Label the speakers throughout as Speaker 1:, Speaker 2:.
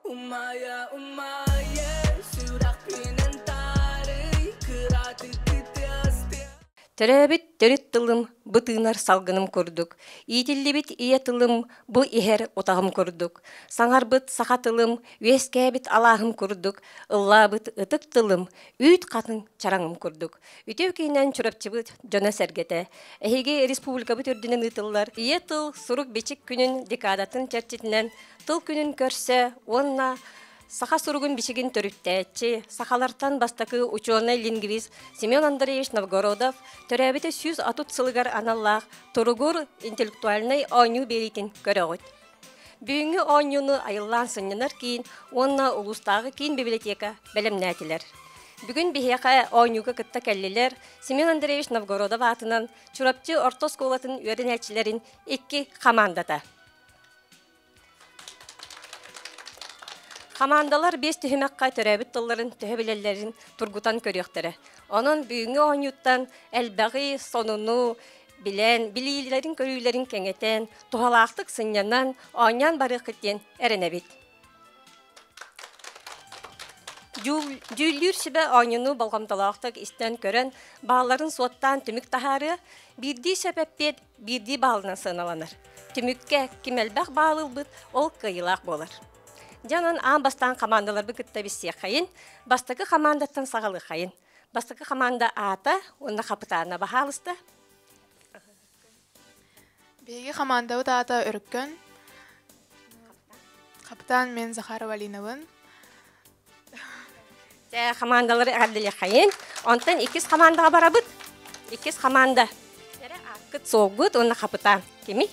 Speaker 1: Умая, умая, сүрэх күнүн таарый, кыратын кытыасты. Төрөөбүт төрүт тылым бу тыынар салгыным курдук. Иитиллибит ийэ тылым бу иһэр утаҕым курдук. Саҥарбыт саха тылым, үөскээбит алааһым курдук, ыллаабыт ытык тылым, үүт хатын чараҥым курдук. Үтүө киинэн Чурапчыбыт дьоно-сэргэтэ, эһиги республикабыт үрдүнэн ыытыллар Ийэ тыл сурук-бичик күнүн декадатын чэрчитинэн тыл күнүн көрсө уонна Саха суругун бичигин төрүттээччи, сахалартан бастакы ученый-лингвист Семен Андреевич Новгородов төрөөбүтэ сүүс отут сылыгар аналлаах туругур интеллектуальнай оонньуу биэриитин көрөҕүт. Бүгүҥҥү оонньууну айыллаан сынньанар киин уонна улуустааҕы киин библиотека бэлэмнээтилэр. Бүгүн биһиэхэ оонньууга кытта кэллилэр Семен Андреевич Новгородов аатынан Чурапчы орто оскуолатын үөрэнээччилэрин икки хамаандата. Хамаандалар биэс түһүмэххэ төрөөбүт тылларын төһө билэллэрин тургутан көрүөхтэрэ. Онон бүгүҥҥү оонньууттан элбэҕи, сонуну, билэн, билиилэрин-көрүүлэрин кэҥэтэн, туһалаахтык сынньанан, оонньоон барыаххыт диэн эрэнэбит. Дьүүллүүр сүбэ оонньууну болҕомтолоохтук истэн көрөн, баалларын суоттаан түмүк таһаарыа, биирдии сөп эппиэт биирдии баалынан сыаналанар. Түмүккэ ким элбэх баал ылбыт, ол кыайыылаах буолар. Дьэ онон аан бастаан хамаандаларбын кытта билсиэххэйин, бастакы хамаандаттан саҕалыаххайын. бастакы хамаанда аата уонна хапытаана баһаалыста биһиги хамаандабыт аата өркөн хапытаан мен захар валиновын хамаандалары эҕэрдэлиэххэйин онтон иккис хамаандаҕа барабыт иккис хамаанда эрэ ааккыт суолгут уонна хапытаан кими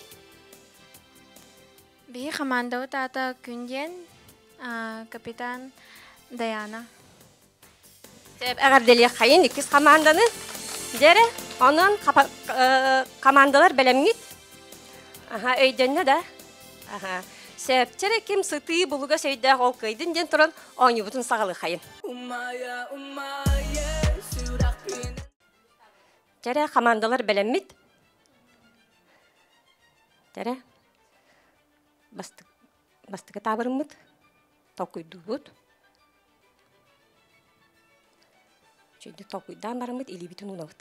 Speaker 1: биһи хамаандабыт аата күн диэн капитан даяна эҕэрдэлиэххэйин иккис хамаанданы дьэрэ онон командалар бэлэмҥит өйдөннө да сөпчөрө ким сытыы булугас өйдөөх ол кыйдын диэн туран оонньуубутун саҕалыахайын Тәрә командалар бәләммит. Тәрә. Бастык бастакы таабырыммыт толкуйдуубут чөйдүк толкуйдаан бараммыт илиибитин уунабыт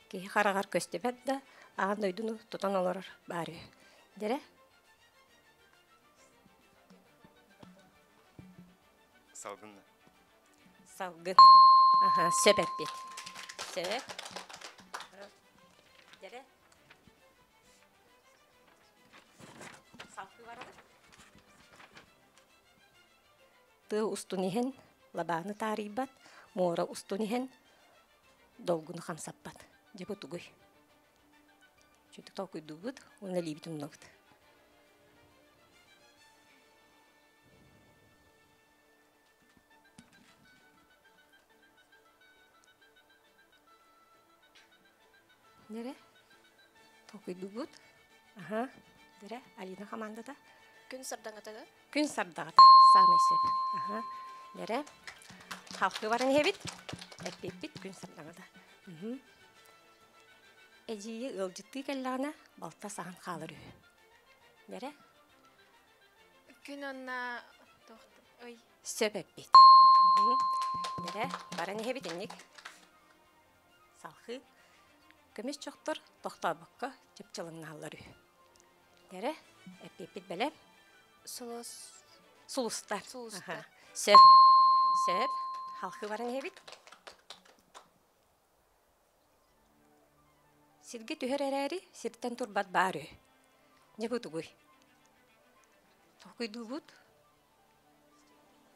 Speaker 1: киһи хараҕар көстүбэт да аан дойдуну тутан олорор баар үһү дэрэ салгынна Салгы. Аха, сөп эппит. Сөп. Дьэрэ. Салкыы барара. Тыыл устун иһэн, лабааны таарыйбат, муора устун иһэн, долгуну хамсаппат. Дьэбэ тугуй. Чүтүк толкуйдуубут, уна лиибит умногут. Нерэ, толкуйдугут? Аха, Дерэ, Алина хамаандата. Күн сардаҥатыгар? Күн сардаҕата. Саамай сөп. Аха, Нерэ, халкы баран иһэбит. Эппиппит күн сардаҥата. Үһү. Эдьиийэ ыалдьыттыы кэллэҕинэ, балта саһан хаалар үһү. Нерэ, күн онно ой сөп эппит бэрэ баран иһэбит инник салхыы көмүс чохтор тохтообокко чыпчылыҥнааллар үһү бэрэ эппиппит бэлэм сулус сулустар сөп сөп салхыы баран иһэбит Сиргэ түһэр эрээри, сиртэн турбат баар үһү. Дьэ бу тугуй? Толкуйдуубут.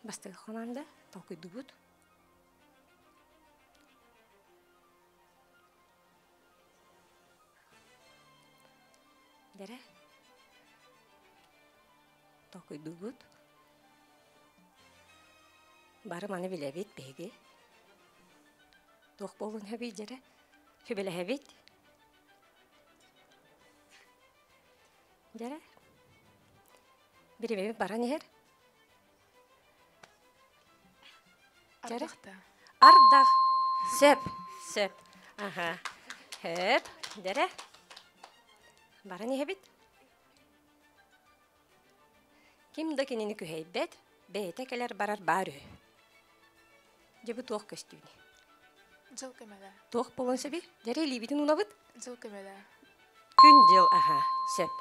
Speaker 1: Бастакы ханаанда толкуйдуубут. Дэрэ. Токуйдугут. Бары маны билэбит биһиги. Туох буолун эбий дьэрэ? Сүбэлэһэбит. Дьэрэ, бири-бэби баран иһэр. Дьэрэ, ардах. Сөп, сөп. Аха. Хөп, дьэрэ. Баран иһэбит. Ким да кинини күһэйбэт, бэйэтэ кэлэр-барар баар үһү. Дьэ бу туох көстүүнүй? Дьыл көмөлө. Туох буолуон сөбүй? Дьэрэ илиибитин уунабыт? Дьыл көмөлө. Күн-дьыл, аһа, сөп.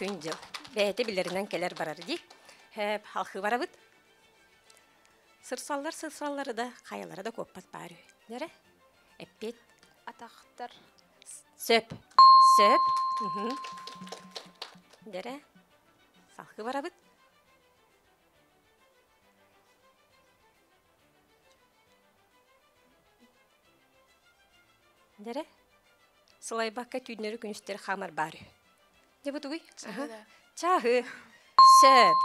Speaker 1: Күн-дьыл. Бэйэтэ билэринэн кэлэр-барар дии. Һээп, алхыыбарабыт. Сырсаллар-сырсаллары да, хайалара да куоппат баар үһү. Дьэрэ? эппит атахтар сөп сөп дэрэ салгы барабыт дэрэ сылайбакка түүннөрү күнүстэр хаамар баар дьэ бу тугуй чааһы сөп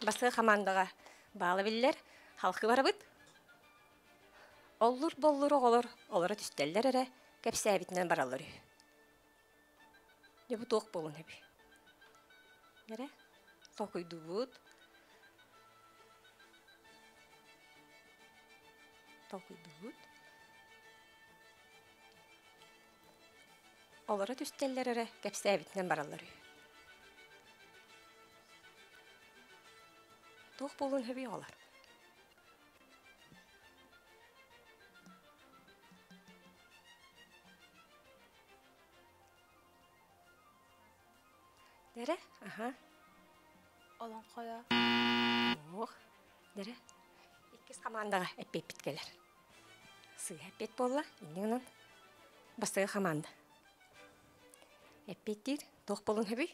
Speaker 1: басқа хамаандаға баала биллер халқы барабыт Оллур-доллур оҕолор олоро түстэллэр эрэ, кэпсээбитинэн бараллар үһү. Дьэ бу туох буолун эбит? Эрэ, толкуйдуубут. Толкуйдуубут. Олоро түстэллэр эрэ, кэпсээбитинэн бараллар үһү. Туох буолун эбит оҕолор? Дэрэ, аха. Олоҥхойо. Ох, дэрэ. Иккис хамаандаҕа эппиппит келер. Сыыһа эппит буолла, иннигинен бастыга хамаанда. Эппиттиир, туох болун хэбүй?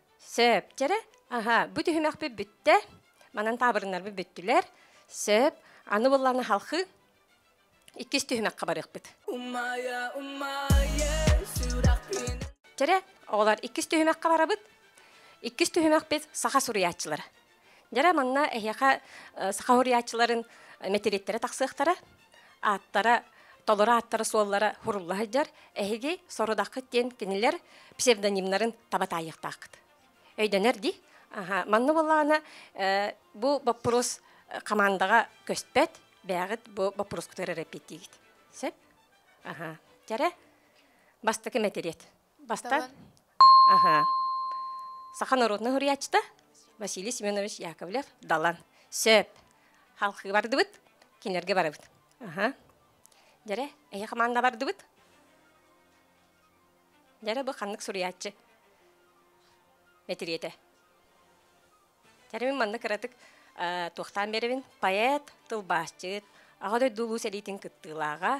Speaker 1: Сөп. Дьэрэ, аһа, бу түһүмэхпит бүттэ. Манан таабырыннарбыт бүттүлэр. Сөп. Аны буллаана халхы иккис түһүмэххэ барыахпыт. Уммая, уммая, сүрэхпин. Дьэрэ, оҕолор, иккис түһүмэххэ барабыт. Иккис түһүмэхпит саха суруйааччылара. Дьара манна эһиэхэ саха уруйааччыларын мэтириэттэрэ тахсыахтара, ааттара толору ааттара-суоллара хурулла сылдьар. Эһиги сорудаххыт диэн кинилэр псевдонимнарын таба таайыахтааххыт. Өйдөнөр дии. Аха, манна буоллаҕына бу боппуруос хамаандаҕа көспөт, бэйэҕит бу боппуруоскутугар эрэппиэттиигит. Сөп? Аха, дьара бастакы мэтириэт. Бастан саха народнай уһуйааччыта Василий Семенович Яковлев Далан сөп халхы бардыбыт кинилэргэ барабыт дьэрэ эһэ хамаанда бардыбыт дьэрэ бу ханнык суруйааччы мэтириэтэ Кэрэмин манна кыратык туохтаан биэрэбин. Поэт, тылбаасчыт, Аҕа дойду улуу сэриитин кыттыылааҕа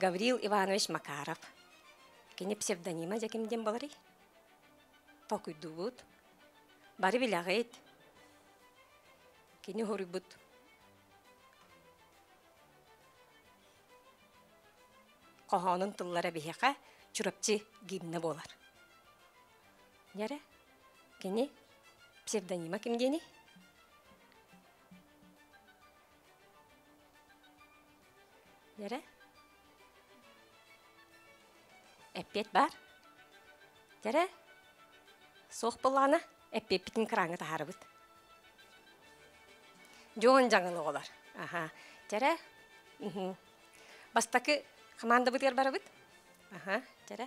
Speaker 1: Гаврил Иванович Макаров. Кини псевдонима дьэким диэн буоларый? Толкуйдуубут. Бары билэҕит. Кини хоруйбут хоһоонун тыллара биһиэхэ Чурапчы гимна буолар. Дьэрэ, кини псевдонима ким диэний? Дьэрэ, эппиэт баар? Дьэрэ, суох былаана, эппиэппитин кырааҥҥа таһаарабыт. Дьон дьаҥыл оҕолор. Аха. Дьэрэ, мхм. бастакы хамаандабытыгар барабыт? Аха, дьэрэ.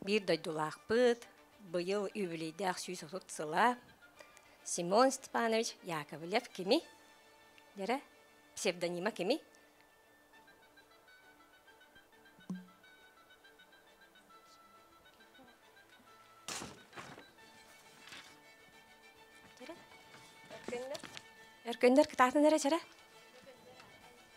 Speaker 1: Биир дойдулаахпыт, быйыл юбилейдаах сүүс отут сыла Семен Степанович Яковлев кими? Дэрэ, псевдонима кими? Эркөннөр, кытаатын эрэ чара?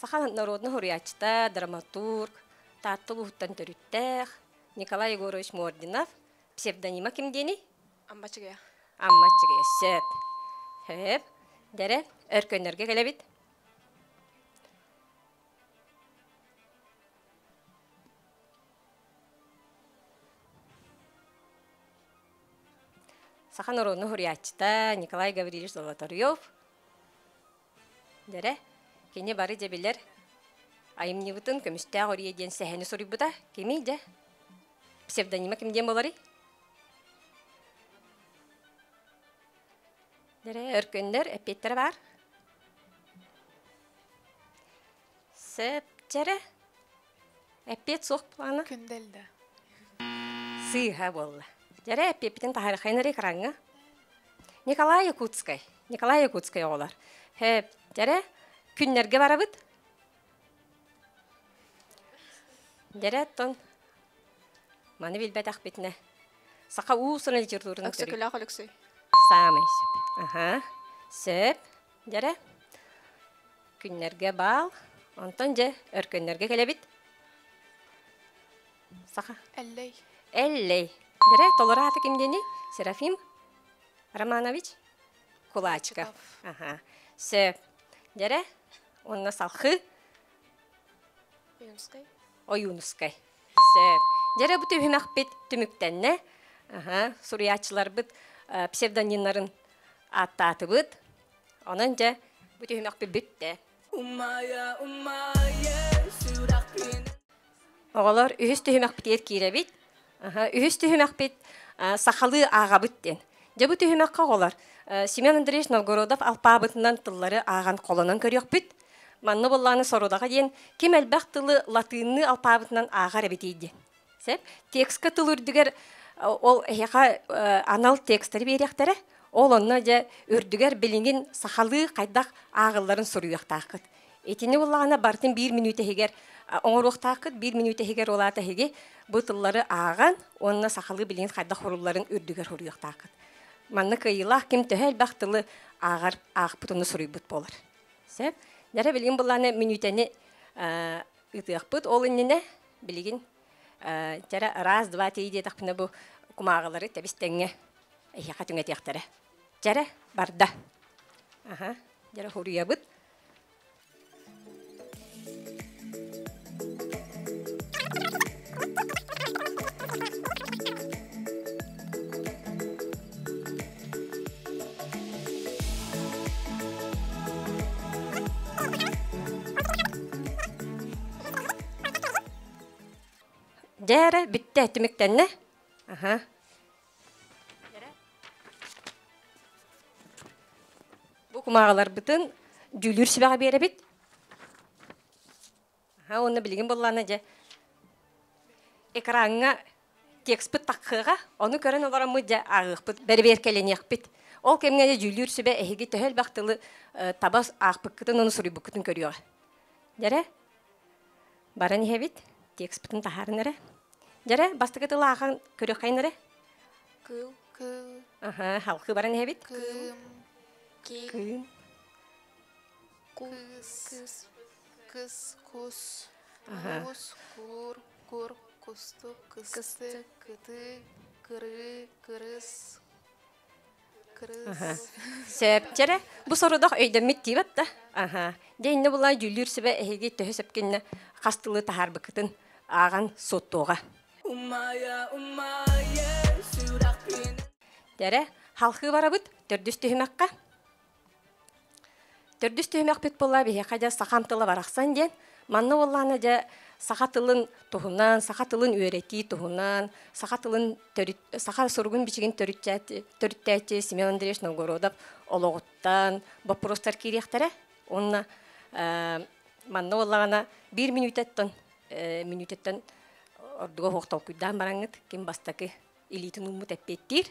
Speaker 1: Саха народнай уруйааччыта, драматург, Таатта улууһуттан төрүттээх Николай Егорович Мординов псевдонима ким диэний? Амма Чыгыйа. Амма Чыгыйа, сөп. Сөп. Дэрэ, өркөннөргө кэлэбит. Саха народнай уруйааччыта Николай Гаврильевич Золоторев Дэрэ, кини бары дьэ билэр, айымньыбытын Көмүстээх Үрүйэ диэн сэһэни суруйбута. Кимий дэ? Псевдонима ким диэн буоларый? Дэрэ, өркөннөр эппиэттэри баар. Сэптэрэ. Эппиэт суох плана. Күндэлдэ. Сыыһа буолла. Дьэрэ эппиэппитин таһаархайын ары краҥҥа. Николай Якутскай. Николай Якутскай оҕолор. Дьэрэ күннэргэ барабыт. Дьэрэ оттон маны билбэтэхпитинэ саха уус-уран литературатын көрүү. Өксөкүлээх Өлөксөй. Саамай сөп. Сөп. Дьэрэ, күннэргэ баал, онтон дьэ өркөннөргө кэлэбит. Саха. Эллэй. Эллэй. Дьэрэ, толору ааты ким диэни? Серафим Романович Кулачка. Аха. Сөп. Дьэрэ, уонна салхы. Ойунскай. Ойунускай. Сөп. Дьэрэ бу түһүмэхпит түмүктэннэ. Аһа, суруйааччыларбыт э, псевдонимнарын ааттаатыбыт. Онон дьэ бу түһүмэхпит бүттэ. Уммая, уммая, сүрэх мин. Оҕолор үһүс түһүмэхпитигэр киирэбит. Аһа, үһүс түһүмэхпит э, сахалыы ааҕабыт диэн. Дьэ бу түһүмэххэ оҕолор э, Семен Андреевич Новгородов алпаабытынан тыллары ааҕан холонон көрүөхпүт. Манна быллааны сорудаҕа диэн ким элбэх тылы латыынныы алпаабытынан ааҕар эбитий диэн. Сөп? Текстка тыл үрдүгэр ол эһиэхэ анал тексттэри биэриэхтэрэ. Ол онно дьэ үрдүгэр билиҥин сахалыы хайдах ааҕылларын суруйуохтааххыт. Итини улаана бартын биир мүнүүтэ иһигэр оҥоруохтааххыт, биир мүнүүтэ иһигэр ол аата эһиги бу тыллары ааҕан уонна сахалыы билигин хайдах урулларын үрдүгэр суруйуохтааххыт. Манна кыайыылаах ким төһө элбэх тылы ааҕар аахпыт ону суруйбут буолар. Сөп. Дары билигин быланы мүнүүтэни ыытыахпыт. Ол иннинэ билигин жара раз, два тии диэтахпына бу кумааҕылары тэбис тэҥҥэ эһиэхэ түҥэтиэхтэрэ. Жара барда. Аха, жара хоруйабыт. Дьэ эрэ, бүттэ, түмүктэннэ. Аха. Бу кумааҕыларбытын дьүүлүүр сүбэҕэ биэрэбит. Аха, уонна билигин буллаана дьэ экраҥҥа текстпыт таххыаҕа, ону көрөн олороммут дьэ ааҕыахпыт, бэрэбиэркэлэниэхпит. Ол кэмҥэ дьэ дьүүлүүр сүбэ эһиги төһө элбэх тылы таба аахпыккытын, ону суруйбуккутун көрүөҕэ. Дэрэ? Баран иһэбит, текстпытын таһааран эрэ. Дьэрэ, бастакы тыл аахан көрүөххэйин эрэ. Кыл. Кыл. Аһа, халкы баран иһэбит. Кыым. Киим. Кыым. Кус. Кыс. Кыс. Кус. Аһа. Кус. Кур. Кур. Кустук. Кысты. Кыты. Кырыы. Кырыс. Сөпчөрө бу сорудах өйдөммүт диибэт да аха дьэ иннэ була дьүүллүүр сүбэ эһиги төһө сөпкүннэ хас тылы таһаарбыккытын ааҕан суоттуоҕа Дэрэ халхыы барабыт төрдүс түһүмэххэ Төрдүс түһүмэхпит була биһиэхэ дьэ сахам тыла барахсан диэн манна уоллаана дьэ саха тылын туһунан, саха тылын үөрэтии туһунан, саха тылын төрүт, саха суругун-бичигин төрүттээччи, төрүттээччи Семен Андреевич Новгородов олоҕуттан боппуруостар киириэхтэрэ уонна манна уоллаана биир мүнүүтэттэн мүнүүтэттэн ордуга оһохтолкуйдаан бараҥҥыт ким бастакы илиитин ууммут эппиэттиир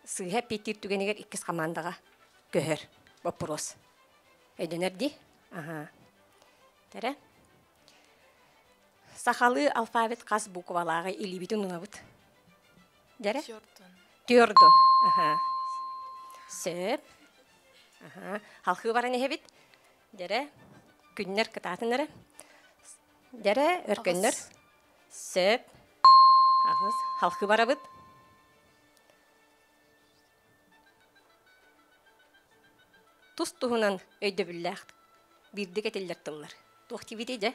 Speaker 1: Сыыһа эппиэттиир түгэнигэр иккис хамаандаҕа көһөр боппуруос. Өйдөнөр дии? Аһаа. Тэрэ. Сахалыы алфавит хас буквалааҕы илиибитин унабыт. Дэрэ? Тёрдун. Тёрдун. Аһаа. Сөп. Аһаа. Халхыы баран иһэбит. Дэрэ. Күннэр кытаатын эрэ. Дэрэ, өркөннөр. Сөп. Аҕыс. Халхыы барабыт. Тус-туһунан өйдөбүллээхтик биирдик этиллэр тыллар. Туох дьэ?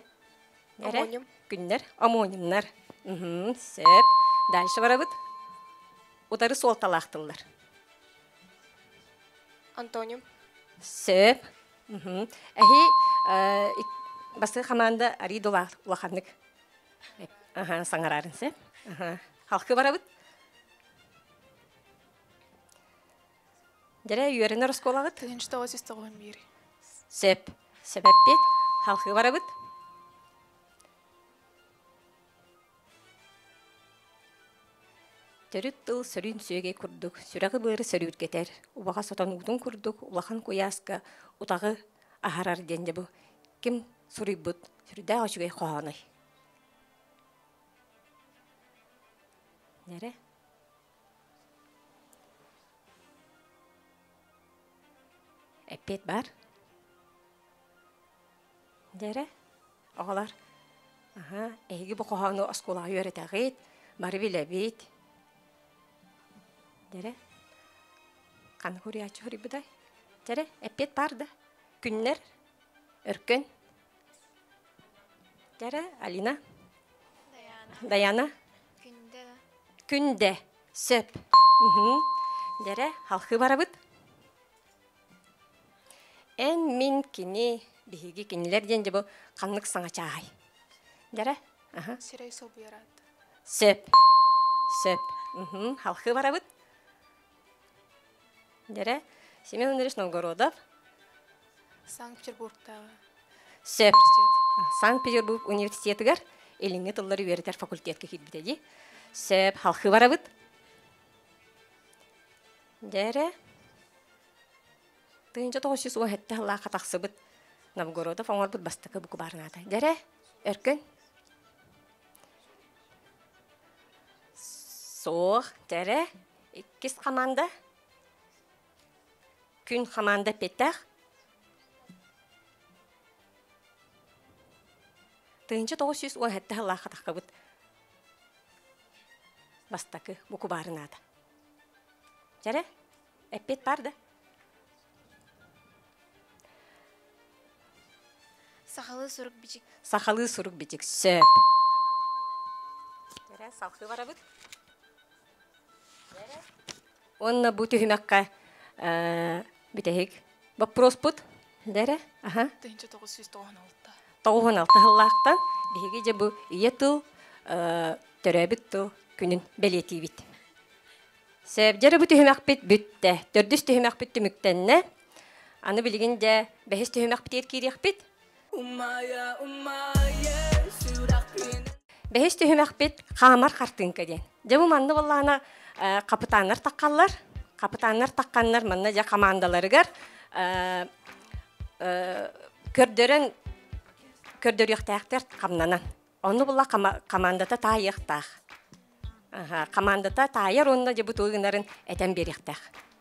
Speaker 1: Омоним. Күннэр, омонимнар. Уһун, сөп. Дальше барабыт. Утары суолталаах тыллар. Антоним. Сөп. Эһи басты команда арий улаханнык Аха, саҥарарын син. Аха. Халкы барабыт. Дьэрэ, үөрэнэр оскуолаҕыт? Инштоҕа систоҕын биири. Сөп. Сөпөппүт. Халкы барабыт. Төрүт тыл сөрүүн сүөгэй курдук, сүрэҕи-быары сөрүүргэтэр, убаҕа сотон уутун курдук улахан куйааска утаҕы аһарар диэн дьэ бу ким суруйбут сүрдээх үчүгэй хоһоонуй эрэ эппиэт баар дэрэ оҕолор аһа эһиги бу хоһоону оскуолаҕа үөрэтэҕит бары билэбит Дэрэ, ханнык уруйааччы суруйбутай? Дэрэ, эппиэт баар да? Күннэр, Өркөн, Дэрэ, Алина, Дайаана, Күндэ, сөп. Дэрэ, халхыы барабыт. Эн-мин кини биһиги кинилэр диэн дьэ бу ханнык саҥа чааһай? Дьарай, аһа. Сирэй солбуйараат. Сөп. Сөп. Мм, халкы барабыт. Дьарай, Семен Андреевич Новгородов. Санкт-Петербургтааҕы. Сөп. Санкт-Петербург университетыгар илиҥҥи тыллары үөрэтэр факультетка киирбитэ дии. Сөп, халкы барабыт. Дээрэ, тыынча тоҕус сүүс уон сэттэ сыллаахха тахсыбыт Новгородов оҥорбут бастакы букубаарынаата. Дээрэ, Өркөн. Суох, дээрэ, иккис хамаанда. Күн хамаанда петах. Тыынча тоҕус сүүс уон сэттэ сыллаахха тахсыбыт бастакы букубаарынаата. Чэрэ, эппиэт баар да? Сахалыы сурук-бичик. Сахалыы сурук-бичик, сөп. Чэрэ, салхыы барабыт. Чэрэ. Уонна бу түһүмэххэ бүтэһик Боппуруспут дэрэ, аха. Тыһынча тоғыз сүүс тоғыз алта. Тоғыз алта сыллаахтан биһиги дьэ бу ийэ тыл, төрөөбүт тыл күнүн бэлиэтиибит. Сээбдьэрэ бу түһүмэхпит бүттэ. Төрдүс түһүмэхпит түмүктэннэ. Аны билигин дьэ бэһис түһүмэхпитигэр киириэхпит. Бэһис түһүмэхпит Хаамар хартыынка диэн. Дьэ бу манна буоллаана э, хапытааннар таххаллар. Хапытааннар тахханнар манна дьэ командаларыгар э, э, көрдөрөн көрдөрүөхтээхтэр хамнанан. Онну була командата таайыахтаах. Командата таайар уонна дьэ бу гынарын этэн биэриэхтээх.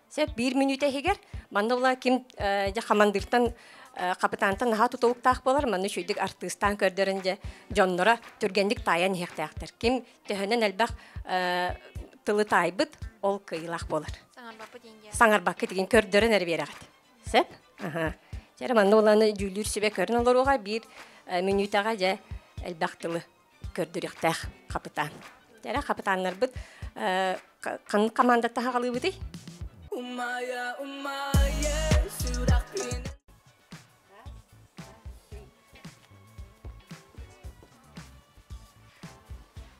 Speaker 1: Сөп биир мүнүүтэ иһигэр манна була ким дьэ хамандыыртан хапытаантан наһаа тутулуктаах буолар манна үчүйдүк артыыстаан көрдөрөн дьэ дьонноро түргэнник таайан иһиэхтээхтэр. Ким төһөнөн элбэх тылы таайбыт ол кыайыылаах буолар. Саҥарбакка тигин көрдөрөн эрэ биэрэҕит. Сөп. Аха. Чэр манна уланы дьүүлүүр сүбэ көрөн олоруоҕа биир мүнүүтэҕэ дьэ элбэх тылы көрдөрүөхтээх хапытаан. Тэрэ хапытааннарбыт команда таһаҕалыыбытый? Уммайа, уммайа, сүрэх күн.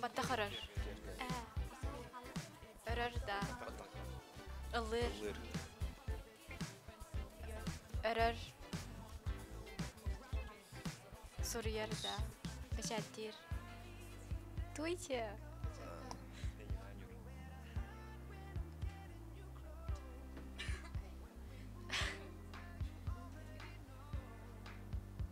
Speaker 1: Баттах өрөр. Өрөр да. Ыллыыр. Өрөр. Суруйар да. Печатьир. Туйте.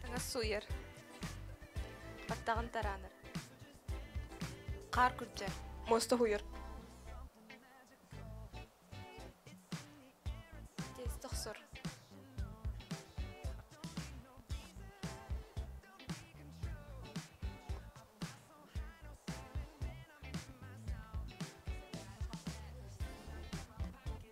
Speaker 1: таҥас сууйар баттаҕын тараанар хаар күрдьэр мосто уһуйар тесто охсор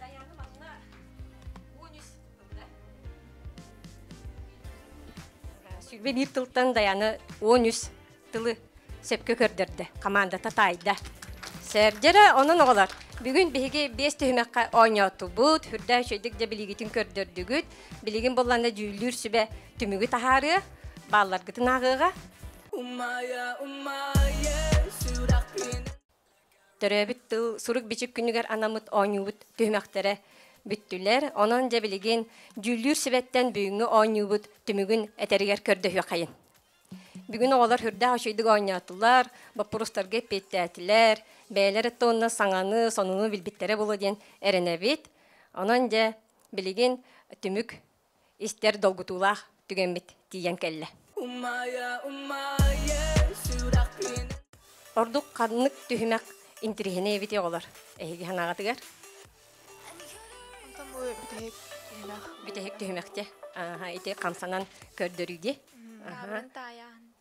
Speaker 1: Даяна манна унюс Сүлбэ биир тылтан Даяна унюс тылы сөпкө көрдөрдө. Командата таайда. Сэрдерэ онон оҕолор бүгүн биһиги биэс түһүмэххэ оонньоотубут, үрдээн үчэйдик дьэ билигитин көрдөрдүгүт. Билигин болланда дьүүллүүр сүбэ түмүгү таһаарыа, баалларгытын ааҕыга. Уммая, уммая, сүрэх Төрөөбүт тыл сурук-бичик күнүгэр анаммыт оонньуубут түһүмэхтэрэ бүттүлэр. Онон дьэ билигин дьүүллүүр сүбэттэн бүгүҥҥү оонньуубут түмүгүн этэригэр көрдөһүөххэйин. Бүгүн оҕолор үрдээх үчүгэйдик оонньоотулар, боппуруостарга эппиэттээтилэр, бэйэлэрэ туонна саҥаны, сонуну билбиттэрэ буолуо диэн эрэнэбит. Онон дьэ билигин түмүк истэр долгутуулаах түгэммит тиийэн кэллэ. Ордук ханнык түһүмэх интириһинэй эбитий оҕолор эһиги санааҕытыгар? Бүтэһик түһүмэхтэ ити хамсанан көрдөрүүгэ.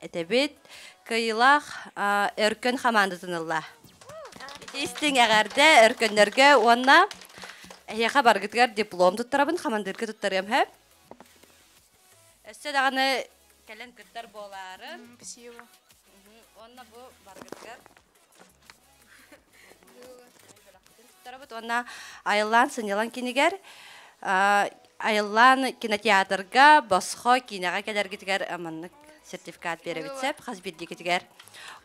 Speaker 1: Этэбит кыайыылаах Өркөн хамаандатын ылла. Ити истиҥ эҕэрдэ өркөннөргө уонна эһиэхэ баргытыгар диплом туттарабын, хамандыырга туттарыам сөп. Өссө даҕаны кэлэн кыттар буоларын. Спасибо. Уонна бу баргытыгар Туттарабыт уонна Айыллаан сынньалаҥ кинигэр Айыллаан кинотеатрга босхо киинэҕэ кэлэргитигэр маннык сертификат биэрэбит сөп хас биирдикитигэр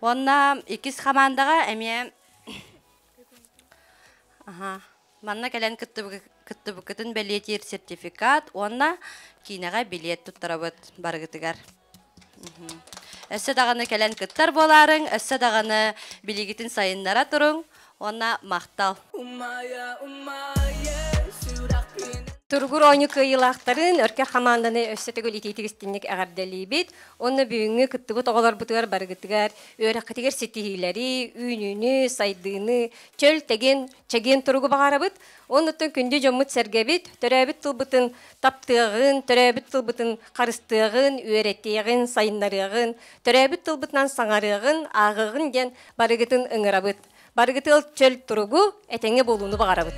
Speaker 1: уонна иккис хамаандаҕа эмиэ манна кэлэн кыттыбыккытын бэлиэтиир сертификат уонна киинэҕэ билиэт туттарабыт барыгытыгар Өссө даҕаны кэлэн кыттар буолаарыҥ, өссө даҕаны билигитин сайыннара туруҥ. Уонна махтал. Тургур оонньуу кыайыылаахтарын өркө хамаанданы өссө төгүл итиитик истинник эҕэрдэлиибит. Онно бүгүҥҥү кыттыбыт оҕолорбутугар барыгытыгар үөрэххитигэр ситиһиилэри, үүнүүнү, сайдыыны чөл тэгин чэгиэн туругу баҕарабыт. Оннуттан күндү дьоммут-сэргэбит, төрөөбүт тылбытын таптыаҕын, төрөөбүт тылбытын харыстыаҕын, үөрэтиэҕин, сайыннарыаҕын, төрөөбүт тылбытынан саҥарыаҕын, ааҕыаҕын диэн барыгытын ыҥырабыт. Барыгытыгар чөл туругу, этэҥҥэ буолууну баҕарабыт.